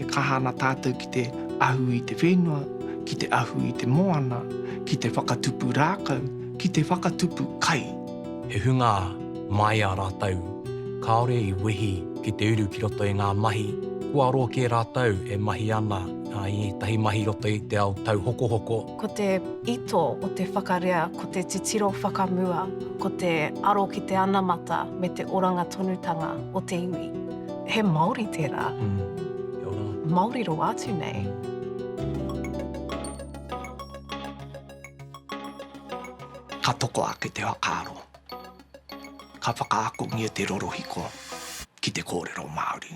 E kaha ana tātou ki te ahu i te whenua, ki te ahu i te moana, ki te whakatupu rākau, ki te whakatupu kai. He hunga māia rātou, kāore i wehi ki te uru ki roto i ngā mahi, kua aro kē rātou e mahi ana i ētahi mahi i roto i te ao tauhokohoko. Ko te ito o te whakarea ko te titiro whakamua, ko te aro ki te anamata me te oranga tonutanga o te iwi. He Māori tērā. Māori roa atu nei. Ka toko ake te whakaaro, ka whakaakongia te rorohiko ki te kōrero Māori.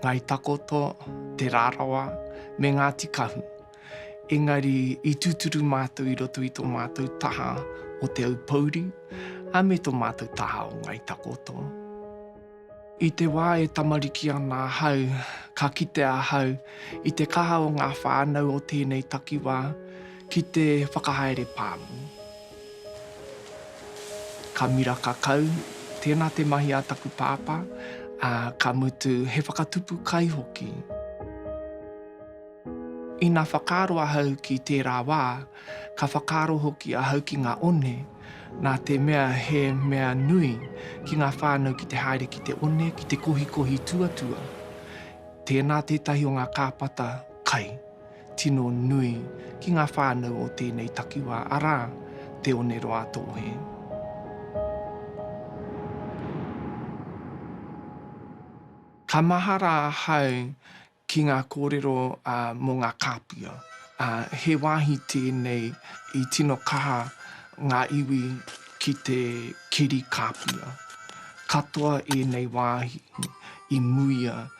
Ngāi Takoto, Te Rarawa me Ngāti Kahu. Engari i tūturu mātou i roto i tō mātou taha o Te Aupouri a me tō mātou taha o Ngāi Takoto. I te wā e tamariki ana ahau, ka kite ahau i te kaha o ngā whānau o tēnei takiwā ki te whakahaere pāmu. Ka miraka kau, tēnā te mahi a taku pāpā, ā, ka mutu he whakatupu kai hoki. Ina whakaaro ahau ki tērā wā, ka whakaaro hoki ahau ki ngā one, nā te mea he mea nui ki ngā whānau ki te haere ki te one, ki te kohikohi tuatua. Tēnā tētahi o ngā kāpata kai. tino nui ki ngā whānau o tēnei takiwā, arā, Te Oneroātōhe. Ka mahara ahau ki ngā kōrero mō ngā kāpia. He wāhi tēnei i tino kaha ngā iwi ki te keri kāpia. Katoa ēnei wāhi i muia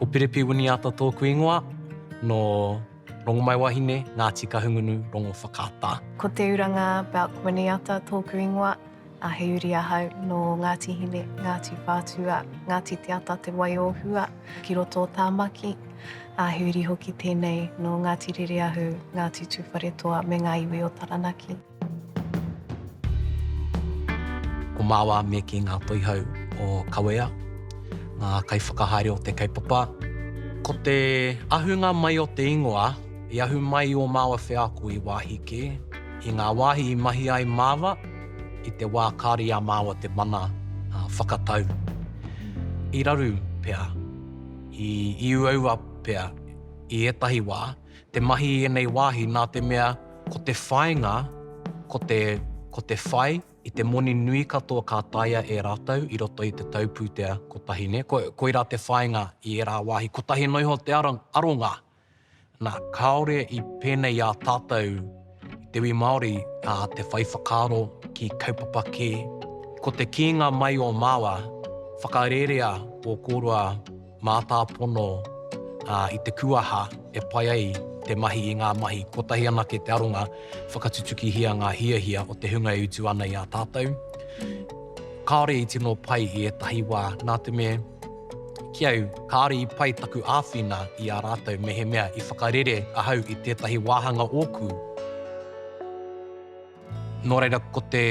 Ko Pirepi Winiata tōku ingoa, nō Rongomaiwahine, Ngāti Kahungunu, Rongowhakaata. Ko Te Uranga Belk Winiata tōku ingoa, a He Uri ahau, nō Ngāti Hine, Ngāti Whātua, Ngāti Te Ata, Te Wai o Hua, ki roto o Tāmaki, a He Uri hoki tēnei, nō Ngāti Rereahu, Ngāti Tūwharetoa me ngā iwi o Taranaki. Ko Māwā me kī ngā Toihau o Kawea, ngā kaiwhakahaere o te kaupapa. Ko te ahunga mai o te ingoa, i ahu mai ō māua wheako i wāhi kē, i ngā wāhi i mahi ai māua, i te wā kāore i a māua te mana whakatau. I raru pea, i uaua pea, i ētahi wā. Te mahi i ēnei wāhi nā te mea ko te whāinga, ko te, ko te whai i te moni nui katoa ka taea e rātou i roto i te tau pūtea kotahi, nē? Ko, koirā te whāinga i ērā wāhi. Kotahi noa iho te aronga, nā, kāore i pēnei i a tātou. Te iwi Māori a te whai whakaaro ki kaupapa kē. Ko te kīnga mai o Māwa, whakarerea ō kōrua mātāpono i te kūaha e pai ai te mahi i ngā mahi kotahi anake te aronga, whakatutukihia ngā hiahia o te hunga e utu ana i a tātou. Kāore i tino pai i ētahi wā, nā te mea. Ki au, kāore i pai taku āwhina i a rātou mehemea i whakarere ahau i tētahi wāhanga ōku. Nō reira, ko te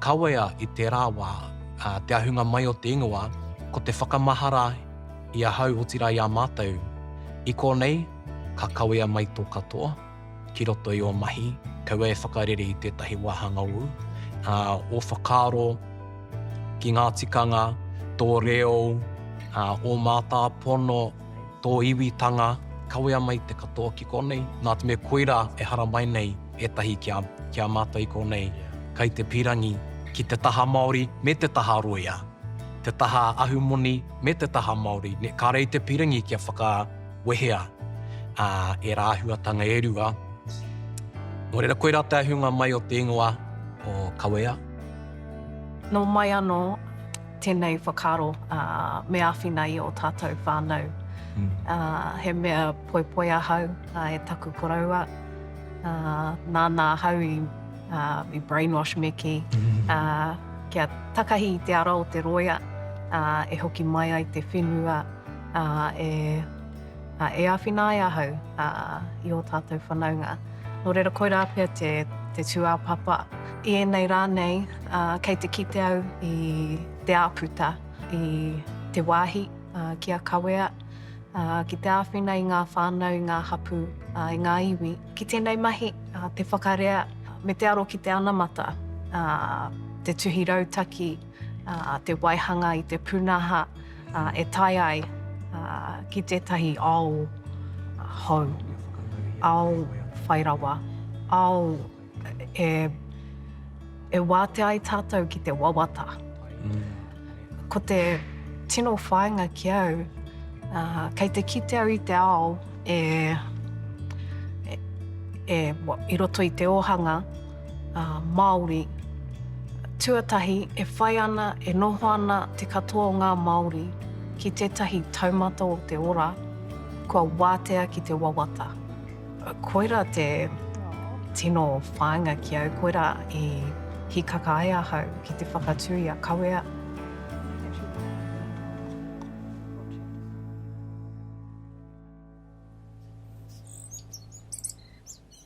kawea i tērā wā, te ahunga mai o te ingoa, ko te whakamahara i ahau otirā i a mātou, i konei, ka kawea mai tō katoa. ki roto i ō mahi, kaua e whakarere i tētahi wāhanga ū, ā, ō whakaaro ki ngā tikanga, tō reo, ā, ō mātāpono, tō iwitanga, kawea mai te katoa ki konei. Nā te mea koirā e haramai nei ētahi ki a, ki a mātou i konei, kai te pīrangi ki te taha Māori me te taha rōia, te taha ahumoni me te taha Māori, nē, kāre i te pīrangi kia whaka, wehea ā ērā āhuatanga e rua. Nō reira, koirā te ahunga mai o te ingoa o Kawea. Nō mai anō tēnei whakaaro ā, me āwhina i ō tātou whānau. Ā, he mea poipoi ahau ā, e taku koroua, ā, nāna ahau i, ā, i brainwash me kī, ā, kia takahi i te ara o te rōia, ā, e hoki mai ai te whenua, ā, e, ā, e āwhina ai ahau, ā, i ō tātou whanaunga. Nō reira, koirā pea te, te tūāpapa. I ēnei rā nei, ā, kei te kite au i te āputa, i te wāhi, ā, ki a kawea, ā, ki te āwhina i ngā whānau, i ngā hapū, ā, i ngā iwi. Ki tēnei mahi, ā, te whakarea me te aro ki te anamata, ā, te tuhi rautaki, ā, te waihanga i te pūnaha, e tae ai ki tētahi ao hou, ao whai rawa, ao e wātea ai tātou ki te wawata. Ko te tino whāinga ki au, kei te kite au i te ao e, i roto i te ōhanga, ā, Māori. Tuatahi, e whai ana, e noho ana te katoa o ngā Māori ki tētahi taumata o te ora kua wātea ki te wawata. Koirā te tino whāinga ki au, koirā i hīkaka ai ahau ki te whakatū i a Kawea.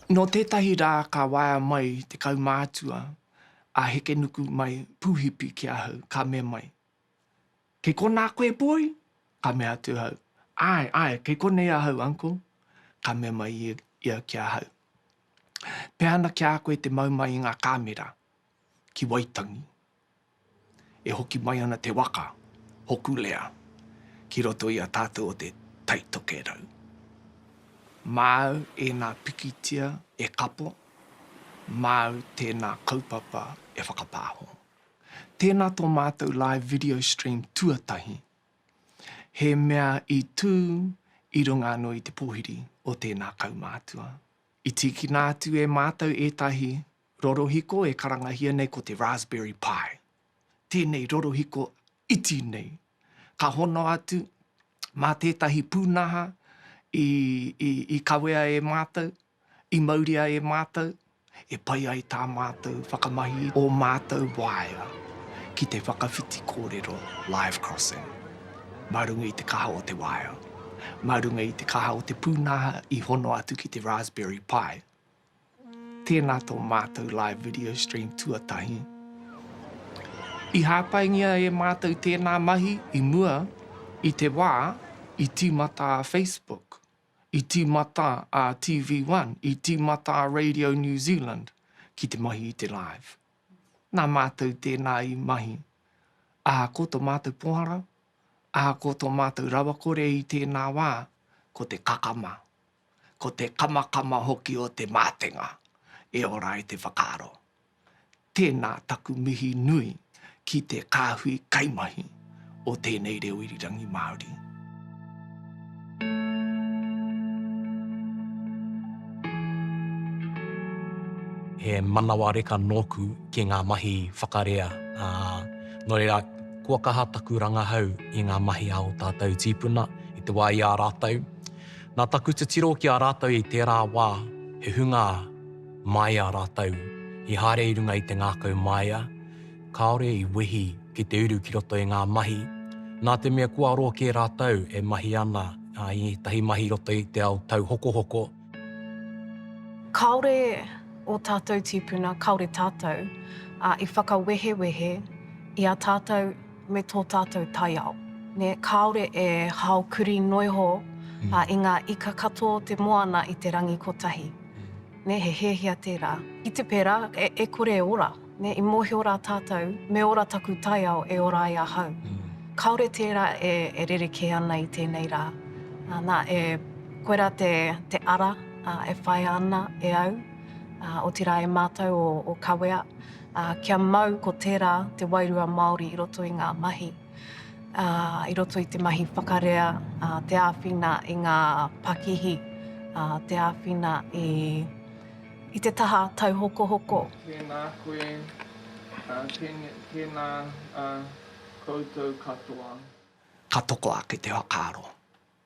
Nō tētahi rā ka waea mai te kaumātua a Hekenuku mai Pūhipi ki ahau, ka mea mai, Kei konā koe, boy? Ka mea atu ahau, Āe, āe, kei konei ahau, uncle. Ka mea mai ia ki ahau, Pehana ki a koe te mau mai i ngā kāmera ki Waitangi? E hoki mai ana te waka, Hokulea, ki roto i a tātou o te Tai Tokerau. Māu ēnā pikitia e kapo, māu tēnā kaupapa e whakapāho. Tēnā tō mātou live video stream tuatahi, he mea i tū i runga anō i te pōhiri o tēnā kaumātua. I tīkina atu e mātou ētahi Rorohiko e karangahia nei ko te raspberry pie. Tēnei rorohiko iti nei. Ka hono atu mā tētahi pūnaha i, i, i kawea e mātou, i mauria e mātou, e pai ai tā mātou whakamahi i ō mātou waea ki te whakawhiti kōrero live crossing mā runga i te kaha o te waea, mā runga i te kaha o te pūnaha i hono atu ki te raspberry pie. Tēnā tō mātou live video stream tuatahi. I hāpaingia e mātou tēnā mahi i mua i te wā i tīmata a Facebook, i tīmata a TV One, i tīmata a Radio New Zealand ki te mahi i te live. Nā mātou tēnā i mahi. Ahakoa tō mātou pohara, ahakoa tō mātou rawakore i tēnā wā, ko te kakama. ko te kamakama hoki o te mātenga, e ora ai te whakaaro. Tēnā taku mihi nui ki te kāhui kaimahi o tēnei reo irirangi Māori. He manawa reka nōku ki ngā mahi whakarea, ā, nō reira, kua kaha taku rangahau i ngā mahi a ō tātou tīpuna i te wā i a rātou. Nā taku titiro ki a rātou i tērā wā, he hunga māia rātou i haere i runga i te ngākau māia, kāore i wehi ki te uru ki roto i ngā mahi, nā te mea kua aro kē rātou e mahi ana i ētahi mahi i roto i te ao tauhokohoko. Kāore ō tātou tīpuna, kāore tātou i whakawehewehe i a tātou. me tō tātou taiao. Nē, kāore e hao kurī noa iho i ngā ika katoa o te moana i te rangi kotahi. Nē, he hiahia tērā. I te pērā, e kore e ora. Nē, i mōhio rā tātou, me ora taku taiao e ora ai ahau. Kāore tērā e rerekē ana i tēnei rā. Nā, e koirā te ara e whaia ana e au, otirā e mātou o Kawea. Ā, kia mau ko tērā te wairua Māori i roto i ngā mahi, ā, i roto i te mahi whakarea, ā, te āwhina i ngā pakihi, ā, te āwhina i, i te taha tauhokohoko. Tēnā koe, ā, tēne, tēnā, ā, koutou katoa. Ka toko ake te whakaaro.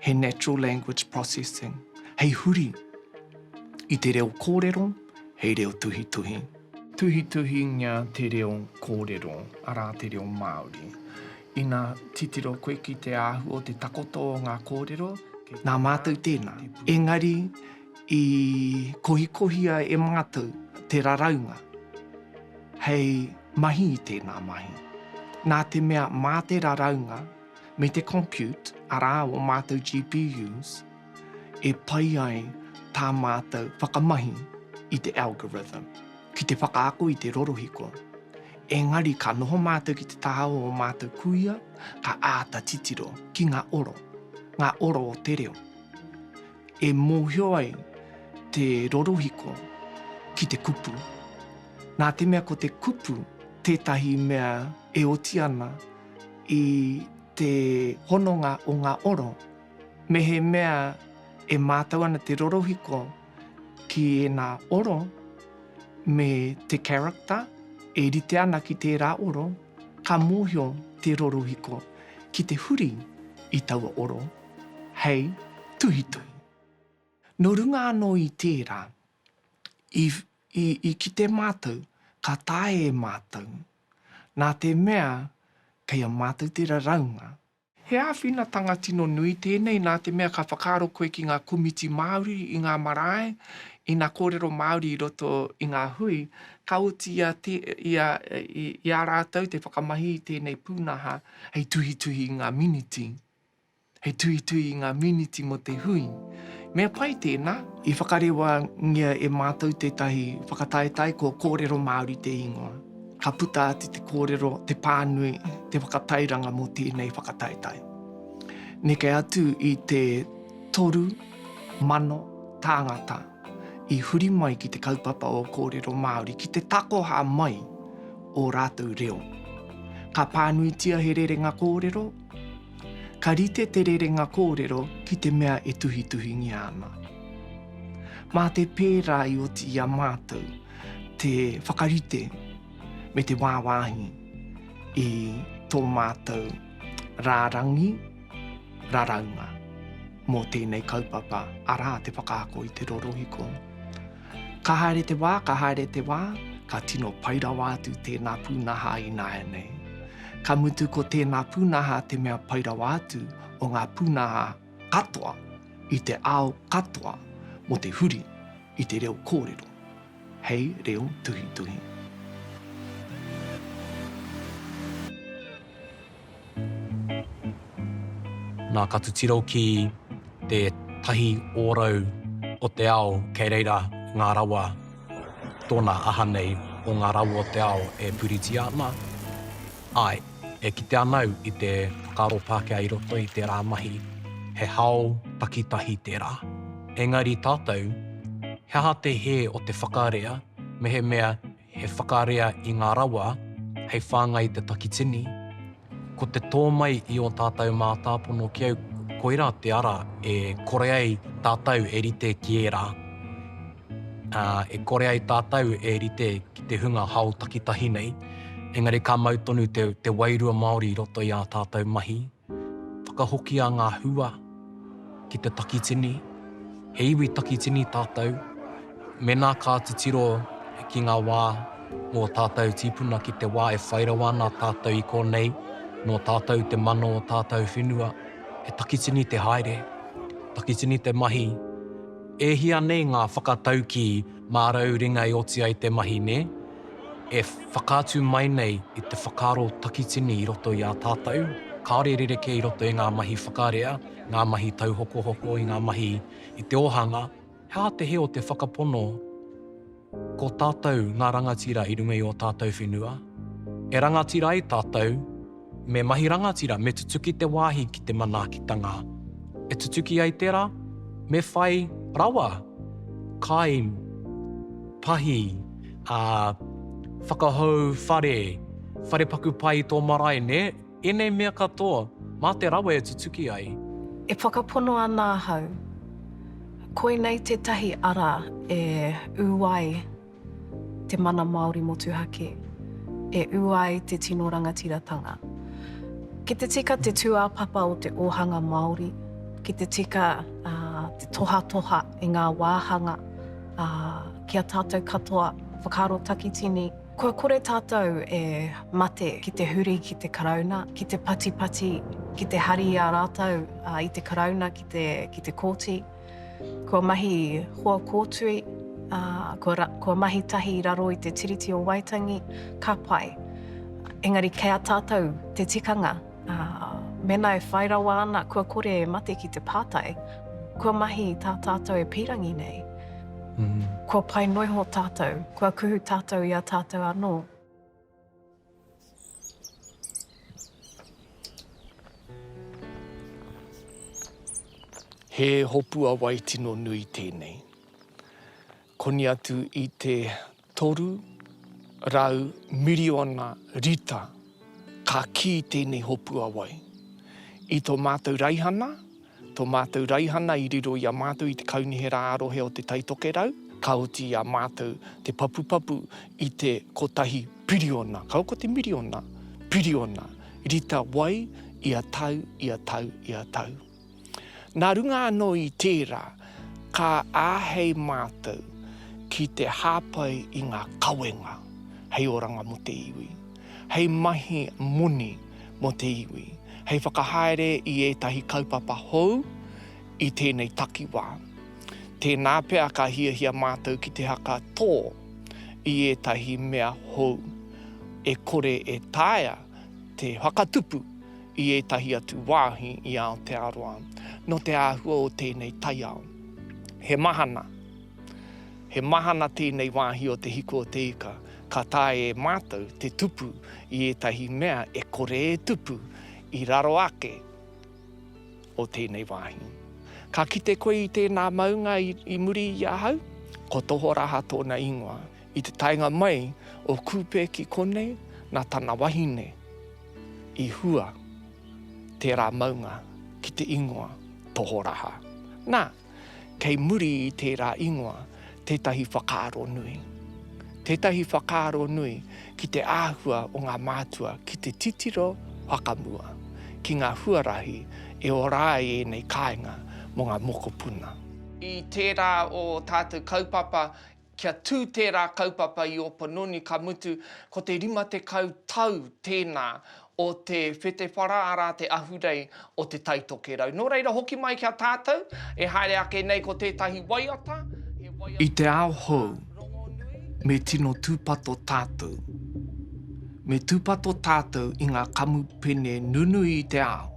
he natural language processing, hei huri i te reo kōrero hei reo tuhituhi. Tuhituhingia te reo kōrero, arā te reo Māori. Ina titiro koe ki te āhua o te takoto o ngā kōrero. Nā mātou tēnā. Engari i kohikohia e mātou te raraunga hei mahi i tēnā mahi. Nā te mea mā te raraunga. me te compute, arā, ō mātou GPUs, e pai ai tā mātou whakamahi i te algorithm ki te whakaako i te rorohiko. Engari ka noho mātou ki te taha o ō mātou kuia, ka āta titiro ki ngā oro, ngā oro o te reo, e mōhio ai te rorohiko ki te kupu. Nā te mea ko te kupu tētahi mea e oti ana, i te hononga o ngā oro, mehemea e mātau ana te rorohiko ki ēnā oro me te character e rite ana ki tērā oro, ka mōhio te rorohiko ki te huri i taua oro hei tuhituhi. Nō runga anō i tērā, i kite mātau ka taea e mātau nā te mea kei a mātou te raraunga. He āwhinatanga tino nui tēnei nā te mea ka whakaaro koe ki ngā komiti Māori i ngā marae, i nā kōrero Māori i roto i ngā hui, ka oti i a rātou te whakamahi i tēnei pūnaha hei tuhituhi i ngā miniti. He tuhituhi i ngā mīniti mō te hui. Mea pai tēnā. I whakarewangia e mātou tētahi whakataetae ko Kōrero Māori te ingoa. Ka puta atu te kōrero, te pānui, te whakatairanga mō tēnei whakataetae. Neke atu i te toru mano tāngata i huri mai ki te kaupapa o Kōrero Māori ki te takoha mai ō rātou reo. Ka pānuitia he rerenga kōrero, Ka rite te rerenga kōrero ki te mea e tuhituhingia ana. Mā te pērā i oti i a mātou te whakarite me te wāwāhi i tō mātou rārangi raraunga mō tēnei kaupapa, arā, te whakaako i te rorohiko. Ka haere te wā, ka haere te wā, ka tino pai rawa atu tēnā pūnaha i nāianei. Ka mutu ko tēnā pūnaha te mea pai rawa atu o ngā pūnaha katoa i te ao katoa mō te huri i te reo kōrero hei reo tuhituhi. Nā ka titiro ki te tahi ōrau o te ao kei reira ngā rawa tōna aha nei o ngā rawa o te ao e puritia ana? Āe, e kite ana au i te whakaaro Pākehā i roto i tērā mahi, he hao takitahi tērā. Engari tātou, he aha te hē o te whakarea mehemea He whakarea i ngā rawa hei whāngai i te takitini, ko te tō mai i ō tātou mātāpono ki au, koirā te ara e kore ai tātou e rite ki ērā, ā, e kore ai tātou e rite ki te hunga hao takitahi nei, engari ka mau tonu te wairua Māori i roto i ā tātou mahi. Whakahokia ngā hua ki te takitini, he iwi takitini tātou, mēnā ka titiro ki ngā wā mō tātou tīpuna ki te wā e whai rawa ana tātou i konei, nō tātou te mano o tātou whenua, he takitini te haere, takitini te mahi. E hia nei ngā whakataukī mārau ringa e oti ai te mahi, nē? e whakaatu mai nei i te whakaaro takitini i roto i a tātou, kāore rerekē i roto i ngā mahi whakarea, ngā mahi tauhokohoko, i ngā mahi i te ōhanga, he aha te hē o te whakapono ko tātou ngā rangatira i runga i ō tātou whenua? E rangatira ai tātou, Me mahi rangatira, me tutuki te wāhi ki te manaakitanga. E tutuki ai tērā, me whai rawa, kai, pahi, ā, whakahou whare, whare paku pai i tō marae, nē? Ēnei mea katoa, mā te rawa e tutuki ai. E whakapono ana ahau, koinei tētahi ara e ū ai. te mana Māori motuhake e ū ai te tino rangatiratanga. Ki te tika te tūāpapa o te ōhanga Māori, ki te tika te tohatoha i ngā wāhanga ki a tātou katoa whakaaro takitini, kua kore tātou e mate ki te huri ki te Karauna, ki te patipati, ki te hari i a rātou i te Karauna ki te kōti. Kua mahi hoa kōtui, ā, kua, kua mahi tahi i raro i te Tiriti o Waitangi, ka pai. Engari kei a tātou te tikanga, ā, mēnā e whai rawa ana kua kore e mate ki te pātai, kua mahi tā tātou e pīrangi nei, kua pai noiho tātou, kua kuhu tātou i a tātou anō. He hopua wai tino nui tēnei. Koni atu i te toru rau miriona rita ka kī tēnei hopua wai. I tō mātou raihana, Tō mātou raihana i riro i a mātou i te Kaunihera ā-Rohe o Te Tai Tokerau, ka oti i a mātou te papupapu i te kotahi piriona, kaua ko te miriona, piriona rita wai ia tau, ia tau, ia tau. Nā runga anō i tērā, ka āhei mātou ki te hāpai i ngā kawenga hei oranga mō te iwi. hei mahi moni mō te iwi, hei whakahaere i ētahi kaupapa hou i tēnei takiwā. Tēnā pea ka hiahia mātou ki te haka tō i ētahi mea hou, e kore e taea te whakatupu i ētahi atu wāhi i Aotearoa, nō te āhua o tēnei taiao. He mahana, he mahana tēnei wāhi o Te Hiku o Te Ika, ka taea e mātou te tupu i ētahi mea e kore e tupu i raro ake o tēnei wāhi. Ka kite koe i tēnā maunga i, i muri i ahau? Ko Tohoraha tōna ingoa. I te taenga mai o Kupe ki konei, nā tana wahine i hua tērā maunga ki te ingoa Tohoraha. Nā, kei muri i tērā ingoa tētahi whakaaro nui. Tētahi whakaaro nui ki te āhua o ngā mātua ki te titiro whakamua ki ngā huarahi e ora ai ēnei kāinga mō ngā mokopuna. I tērā o tātou kaupapa Kia tū tērā kaupapa i Opononi ka mutu ko te 50 tau tēnā o te whetewhara arā te ahurei o Te Tai Tokerau. Nō reira hoki mai ki a tātou e haere ake nei ko tētahi waiata, he waiata I te ao hou, me tino tūpato tātou. Me tūpato tātou i ngā kamupene nunui i te ao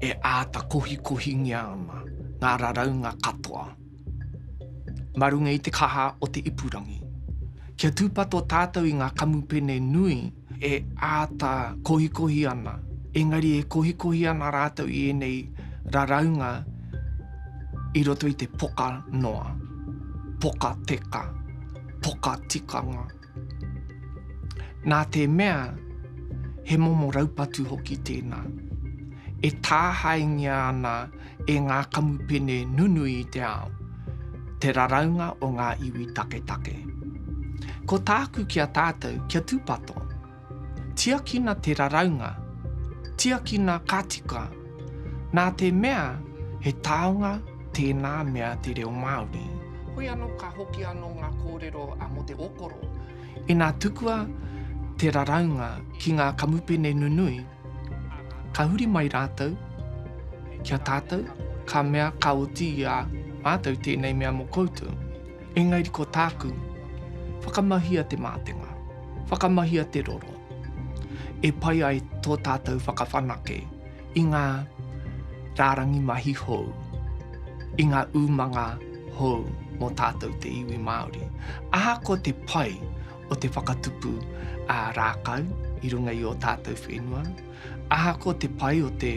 e āta kohikohingia ana ngā raraunga katoa. mā runga i te kaha o te ipurangi. Kia tūpato tātou i ngā kamupene nui e āta kohikohi ana, engari e kohikohi ana rātou i ēnei raraunga i roto i te poka noa, poka teka, poka tikanga. Nā te mea he momo raupatu hoki tēnā, e tāhaengia ana e ngā kamupene nunui i te ao, te raraunga o ngā iwi taketake. Ko tāku ki a tātou kia tūpato. Tiakina te raraunga, tiakina ka tika, nā te mea he taonga tēnā mea te reo Māori. Hoi anō ka hoki anō ngā kōrero mō te okoro. Inā tukua te raraunga ki ngā kamupene nunui, ka huri mai rātou ki a tātou, ka mea ka oti i a mātou tēnei mea mō koutou. Engari ko tāku, whakamahia te mātenga, whakamahia te roro, e pai ai tō tātou whakawhanake i ngā rārangi mahi hou, i ngā umanga hou mō tātou te iwi Māori. Ahakoa te pai o te whakatupu ā-rākau i runga i ō tātou whenua, ahakoa te pai o te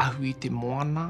ahu i te moana,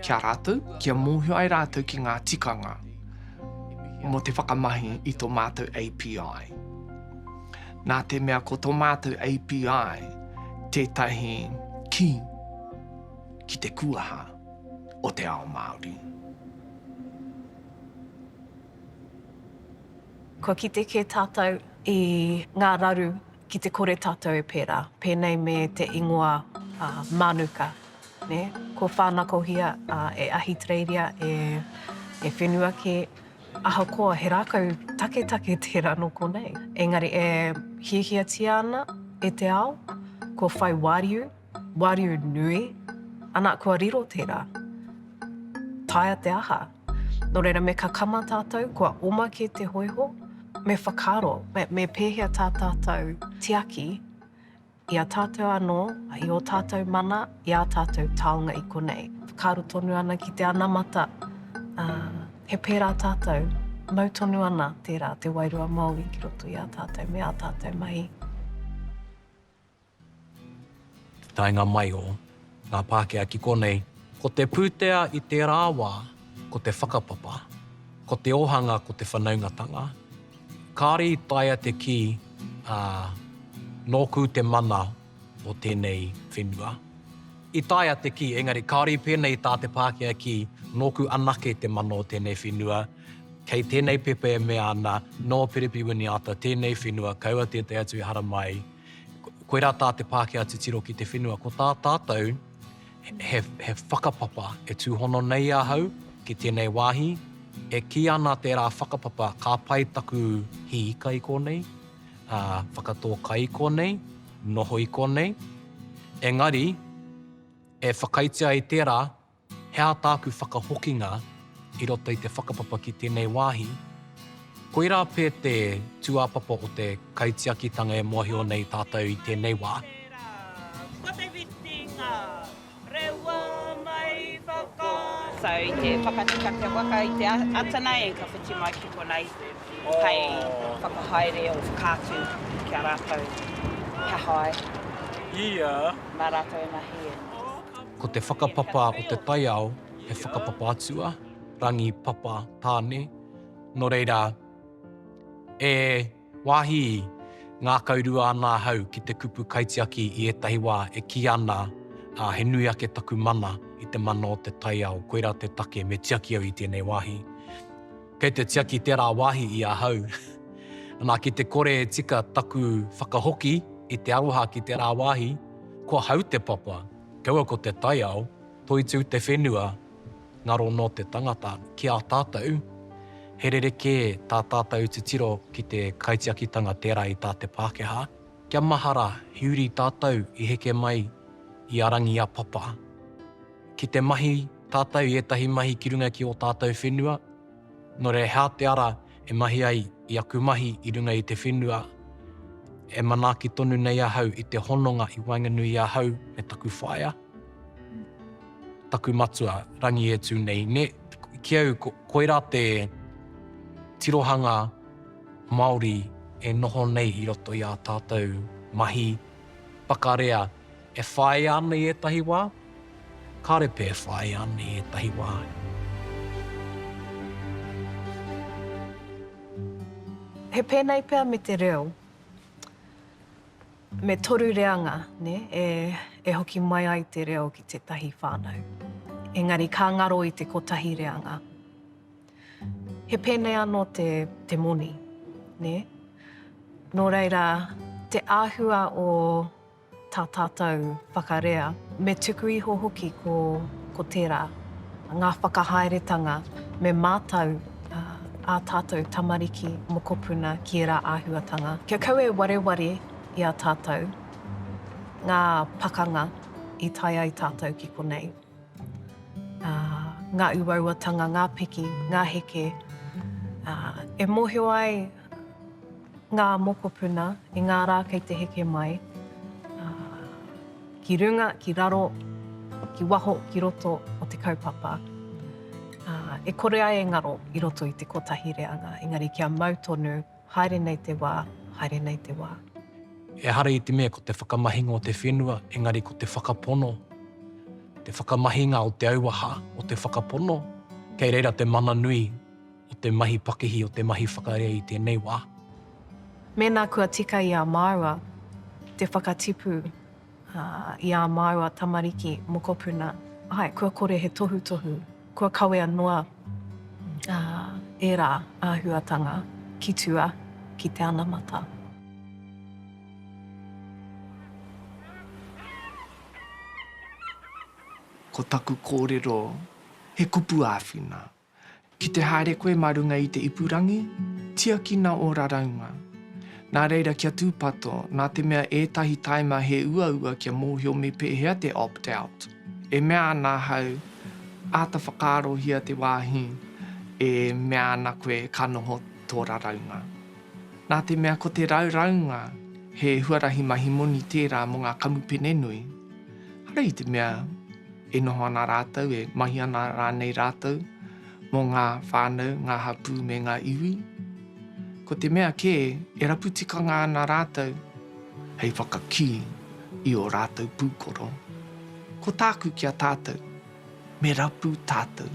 ki a rātou, kia mōhio ai rātou ki ngā tikanga mō te whakamahi i tō mātou API. Nā te mea ko tō mātou API tētahi ki ki te kuaha o te ao Māori. Kua kite kē tātou i ngā raru Ki te kore tātou e pērā, pēnei me te ingoa Mānuka, nē? Kua whānakohia e Ahitereiria, e whenua kē, ahakoa he rākau taketake tērā nō konei. Engari e hiahiatia ana e te ao, kua whai wāriu. Wāriu nui, ana kua riro tērā. Taea te aha. Nō reira me kakama tātou kua oma kē te hōiho, me whakaaro, me pēhea tā tātou tiaki i a tātou anō, i ō tātou mana, i ā tātou taonga i konei. Whakaaro tonu ana ki te anamata, ā, he pērā tātou, mau tonu ana tērā te wairua Māori ki roto i a tātou me ā tātou mahi. Taenga mai o ngā Pākehā ki konei, ko te pūtea i tērā wā ko te whakapapa, ko te ōhanga ko te whanaungatanga. Kāore i taea te kī, ā, nōku te mana o tēnei whenua. I taea te kī, engari kāore i pēnei tā te Pākehā kī, nōku anake te mana o tēnei whenua, Kei tēnei pepa e mea ana, nō Perepi Winiata tēnei whenua, kaua tētahi atu i haramai, koirā tā te Pākehā titiro ki te whenua, ko tā tātou he, he whakapapa e tūhono nei ahau ki tēnei wāhi, e kī ana tērā whakapapa ka pai taku hī ika i kōnei, ā, whakatō kai i kōnei, noho i kōnei, engari, e whakaitia ai tērā, He aha tāku whakahokinga i roto i te whakapapa ki tēnei wāhi? Koirā pē te tūāpapa o te kaitiakitanga e mōhio nei tātou i tēnei wā. So, i te whakatika te waka i te atana e ka whiti mai ki konei hei whakahaere or whakaatu ki a rātou he aha ai mā rātou e mahi. Ko te whakapapa o te taiao he whakapapa atua, rangi, papa, tāne, nō reira, e wāhi ngākaurua ana ahau ki te kupu kaitiaki i ētahi wā e kī ana he nui ake taku mana i te mana o te taiao, koirā te take me tiaki au i tēnei wāhi. Kei te tiaki tērā wāhi i ahau. Nā, ki te kore e tika taku whakahoki i te aroha ki tērā wāhi, ko ahau te papa. Kaua ko te taiao, toitū te whenua, ngaro nō te tangata. Ki a tātou, he rerekē tā tātou titiro ki te kaitiakitanga tērā i tā te Pākehā. Kia mahara, he uri tātou i heke mai i a Rangiapapa. Ki te mahi tātou i ētahi mahi ki runga ki ō tātou whenua, Nō reira he aha te ara e mahi ai i aku mahi i runga i te whenua e manaaki tonu nei ahau i te hononga i waenganui i ahau me taku whaea, taku matua, Rangi e tū nei, nē? Ki au, koirā te tirohanga Māori e noho nei i roto i ā tātou mahi whakarea. E whāia ana i ētahi wā? Kāre pea e whāia ana i ētahi wā. He pēnei pea me te reo. Me toru reanga e hoki mai ai te reo ki tētahi whānau. Engari ka ngaro i te kotahi reanga. He pēnei anō te moni. Nō reira, te āhua o. tā tātou whakarea. Me tuku iho hoki ko tērā, ngā whakahaeretanga me mātau ā tātou tamariki, mokopuna ki ērā āhuatanga. Kia kau e wareware i a tātou ngā pakanga i tae ai tātou ki konei. ā, ngā uauatanga, ngā piki, ngā heke, ā, e mōhio ai ngā mokopuna i ngā rā kei te heke mai, ā, ki runga, ki raro, ki waho, ki roto o te kaupapa, ā, e kore ai e ngaro i roto i te kotahi reanga, engari kia mau tonu. Haere nei te wā, haere nei te wā. Ehara i te mea ko te whakamahinga o te whenua, engari ko te whakapono, te whakamahinga o te auaha, o te whakapono, kei reira te mana nui o te mahi pakihi, o te mahi whakarea i tēnei wā. Mēnā kua tika i a māua te whakatipu. Ā, i ā māua tamariki mokopuna, āe, kua kore he tohutohu, kua kawea noa, ā, ērā āhuatanga ki tua ki te anamata. Ko taku kōrero, he kupu āwhina. Ki te haere koe mā runga i te ipurangi, tiakina ō raraunga. Nā reira kia tūpato, nā te mea ētahi taima he uaua kia mōhio me pēhea te opt-out. E mea ana ahau, āta whakaarohia te wāhi e mea ana koe ka noho tō raraunga. Nā te mea ko te raraunga he huarahi mahi moni tērā mō ngā kamupene nui, arā i te mea, E noho ana rātou, e mahi ana rānei rātou mō ngā whānau, ngā hapū me ngā iwi? Ko te mea kē, e rapu tikanga ana rātou hei whakakī i ō rātou pūkoro. Ko tāku ki a tātou, me rapu tātou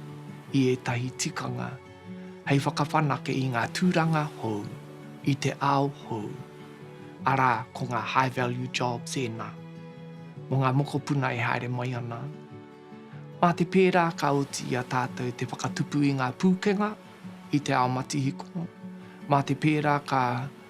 i ētahi tikanga hei whakawhanake i ngā tūranga hou, i te ao hou, arā, ko ngā high value jobs ēnā, mō ngā mokopuna e haere mai ana. Mā te pērā ka oti i a tātou te whakatupu i ngā pūkenga i te ao matihiko, mā te pērā ka